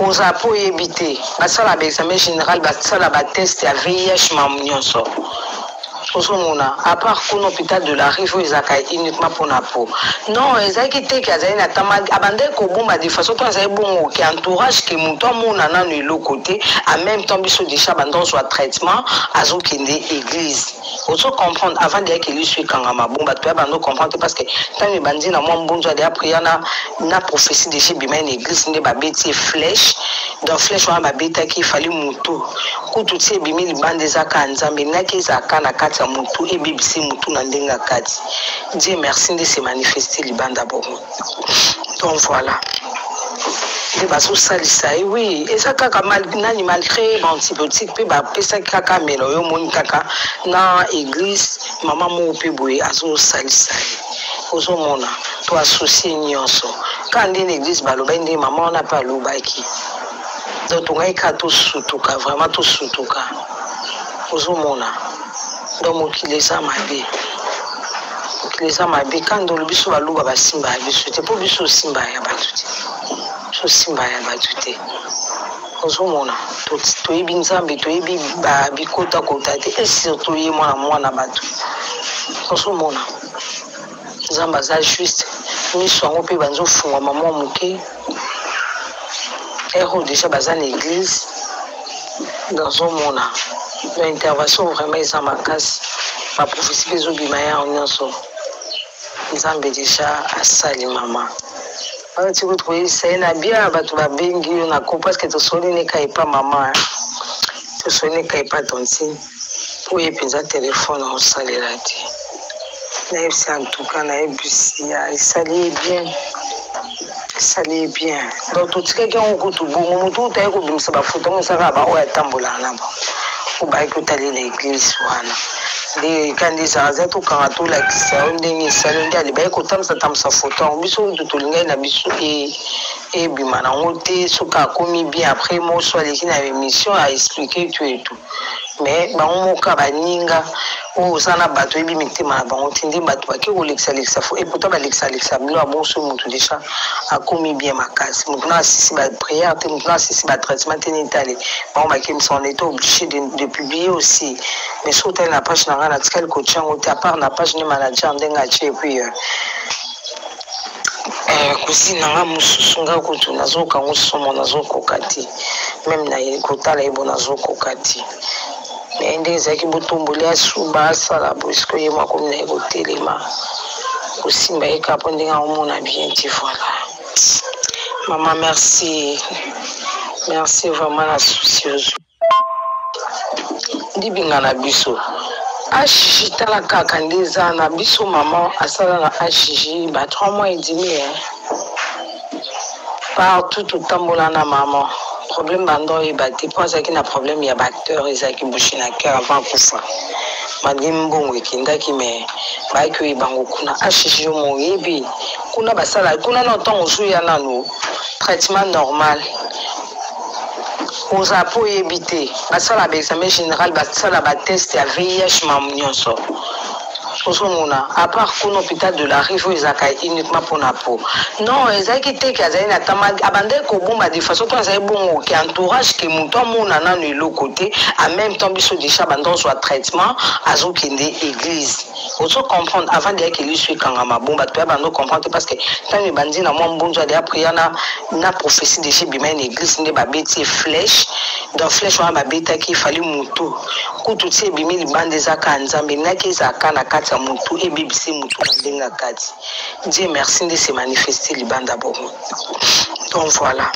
oza po oyebi te basala ba examen général basala ba test ya vih mamu nyonso ozomona apart kuna hôpital de la rive oyo ezalaka uniquement mpo na po non ezalaki te ke azali na tama abandaki kobomba de façon to azali bongo ke entourage ke moto amona nano eloko te en même temps biso deja banda ozwa traitement azokende église ozo comprendre avant deya keli su ekangama bon bato ya bando comprendre te parce que ntango ebandi na mwa mbunzu adeya prière na, na prophétie déjà ebimai na église nde babeti ye flèche donc flèche wana babetaki efali motu kutu ti ebimi libanda eza kaka nzambe elingaki ezalaka na kati ya motu ebebisi motu na ndenge ya kati die merci nde se manifeste libanda bongo donc voilà nde bazosalisa ye wi eza kaka nani malgré baantibiotique mpe bapesaki kaka melo yo omoni kaka na église mama moko mpe boye azosalisa ye ozomona to associe nyonso kaka nde na église balobaki nde mama wana mpe alobaki donc tongaki kaka tosutuka vraiment tosutuka ozomona donc mokili eza mabe mokili eza mabe kanda olobi biso baluba basimba ya biso te mpo biso osimba ya bato te biso osimba ya bato te ozomona toyebi nzambe toyebi bikotakota te esir toye mwana mwana bato ozomona nzambe aza juste miso yango mpe banza ofungwama mwa moke ero deja baza na église nazomona na intervention vraiment eza makasi baprofesi mpe ezobima yango nyonso nzambe deja asali mama wana ti kutu koyebisa ye na bia bato babengi yo na ko parceke tosoli neka epa mama tosoli neka epa tontine mpo ye mpenza telefone aosalela te nayebisi antuka nayebisi ya esali ye bien esali ye bien donc totikaki yango kutu bongo motu kutu aye kobimisa bafoto mosaka baoyo atambolaka na bango obaki kotalela eglise wana nde kandi ezalaza tokanga tolakisa yo ndenge esali nde alibaki kotambisa tambisa foto yango biso kutu tolingaki na biso e, ebima nango te soki akomi bien après moso aleki na émission a expliqué tu etu me bango moka baninga oyo oza na bato oyebi mitema na bango te nde bato bake kolekisalekisa fo epota balekisalekisa bino abonso motu deja akomi bien makasi motu na asisi bapriere te motu na asisi batraitement te netale bango bakemisa on était obligé de, de publier aussi mais soki otali na page na ngai natikali kotya yango te apart na page nde manager ndenge atye epuis euh, eh, kusini na nga mosusu nga kutu nazoyoka ngo somo nazokoka te meme na kotala ye bo nazokoka te me nde ezalaki botomboli asuba asala boisiko ye mwa komi na ye kotelema kosimba ye kapo ndenge aomona bien te voilà mama merci merci vraiment na souci ozwi libinga na biso ashiji tala kaka nde eza na biso mama asala na ashiji ba trois mois edimi e partout totambola na mama problème banda oyeba te mpo azalaki na problème ya baacteur ezalaki bouche na cœur avant akufa malgre mbongo ekendaki me bayaki oyeba yango kuna ashiji yo moyebi kuna basala kuna na ntango ozuya nano traitement normal oza po oyebi te basala ba examen général basala ba test ya vih mamu nyonso ozomona apart kuna hôpital de la rive oyo ezalaka uniquement mpona po non ezalaki te ke azali na tama abandaki kobomba de façon to azali bongo ke entourage ke moto amona nano eloko te en même temps biso deja banda ozwa traitement azokende église ozo comprendre avant deya keli so ekangama bon bato ya bando comprendre te parce que ntango ebandi na mwa mbunzu ya deya prière na, na prophétie déjà ebima na église nde babeti ye flèche donc flèche wana babetaki efali motu kutu ti ebimi libanda ezaka ya nzambe naki ezalaka na kati ya motu ebebisi motu na ndenge ya kati Dieu merci nde se manifeste libanda bongo donc voilà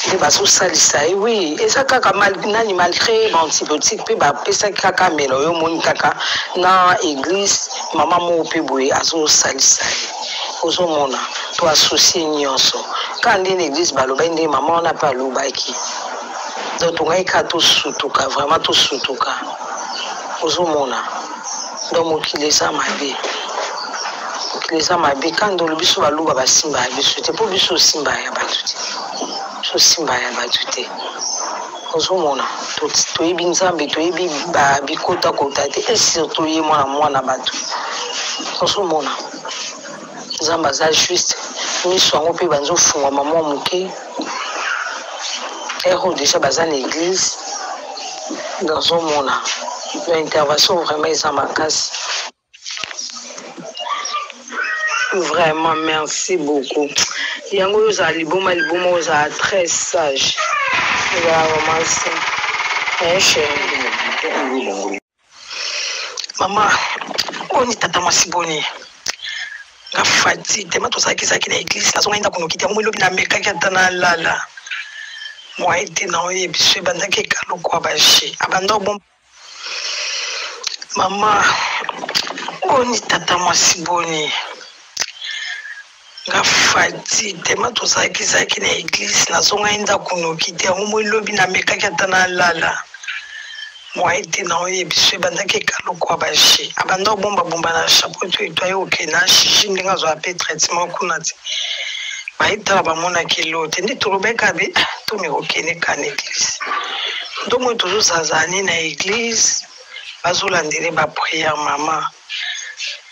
nde bazosalisa ye wi eza kaka nani malgré baantibiotique mpe bapesaki kaka mela oyo omoni kaka na église mama moko mpe boye azosalisa ye ozomona to associe nyonso kaka nde na église balobaki nde mama wana mpe alobaki donc tongaki kaka tosutuka vraiment tosutuka ozomona donc mokili eza mabe mokili eza mabe kandolo biso baluba basimba ya biso te mpo biso osimba ya bato te biso osimba ya bato te ozomona toyebi nzambe toyebi bikotakota te esir toye mwana mwana bato ozomona nzambe aza juste miso yango mpe banza ofungwama mwa moke ero deja baza na église nazomona na intervention vraiment eza makasi vraiment merci beaucoup yango oyo ozala liboma liboma ozala très sage ozala romance un cheri mama boni tata mwasi boni nga fati tema tozalakizalaki na eglise nazongaki ndako noki te yango elobi namekaki ata nalala moye te na oye biso ebandaki ekalokwa baje abanda obom mama boni tata mwasi boni nga fati tema tozalaki zalaki na eglise nazongaki ndako noki te yango moi lobi namekaki ata nalala moye te na oye biso ebandaki ekalokwa bashi abanda kobombabomba na chapeau to eto aye oke na shiji ndenge azwa mpe traitement kuna te bayetala bamonaki elo te nde tolobeka be ah, tomeka okende ka na eglise ndomoyo tozozazani na eglise bazolandele bapriere mama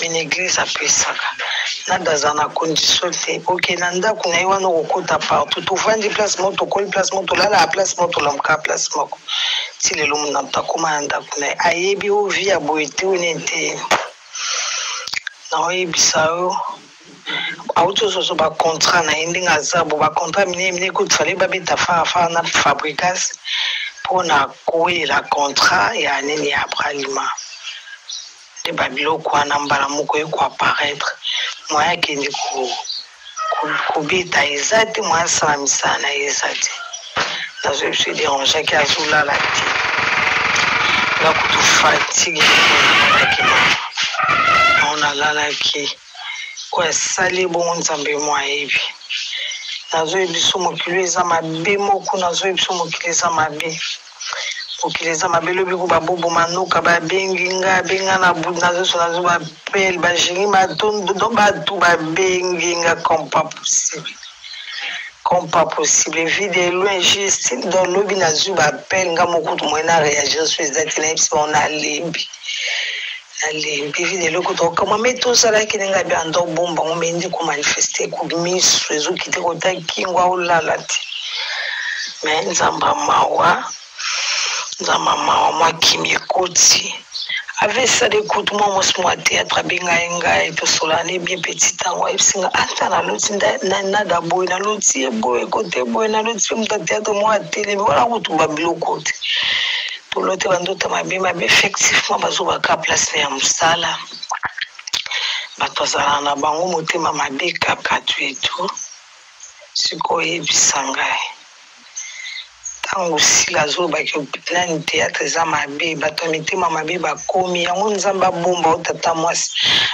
me na eglise apesaka nzambe aza na condition te oke na ndako na ye wana okokota partout tofandi place moko tokoli place moko tolalaka place moko tolamukaa place moko ti lelo mona moto akoma na ndako na ye ayebi o vi ya boye te o nini te naoyebisa yo auti ozozo bacontrat na ye ndenge aza bo bacontrat minene minene kutu fale babeta farafara na fabricas mpo na kowelela contrat ya nini ya bralima nde ba biloko wana mbala moko eko apparaître moyen akende ko kobeta eza te moyen asala misala na ye eza te nazoyi biso ederangeaki azolala te nga kutu fatigue ekonanaki na on alalaki oyo asali ebongo nzambe mo ayebi nazoyebi biso mokili eza mabe moko nazoyebi biso mokili eza mabe mokili eza mabe lobi ko baboboma noka babengi nga abenga na bud nazoso nazo bapele bajengi matondo do bato babengi nga comme pas possible comme pas possible vie de loin juste donc lobi nazwi bapele nga mokutu moye na réagir so eza te nayebisi bango nalembi nalembi vi lelo kutu okama me tozalaki ndenge abi anda obomba ngo me ndeko manifeste ku misu ezokite kota kingo aolala te me nzamba mawa nzamba mawa mwa kimi ekoti avesale kutu mwa mwasi mwa théâtre abengai ngai tosolani bien petit ntango ayebisi nga ata naloti nada boye naloti ye boye kote boye naloti mpe moto ya théâtre moko atelemi wana kutu babiloko te tolote bandoto mabe mabe effectivement bazobaka place ya mosala bato bazala na bango motema mabe kaka tu etu sikoyo oyebisa ngai ntango sila azolobaki nani teatre eza mabe bato ya mitema mabe bakomi yango nzambe abomba o tata mwasi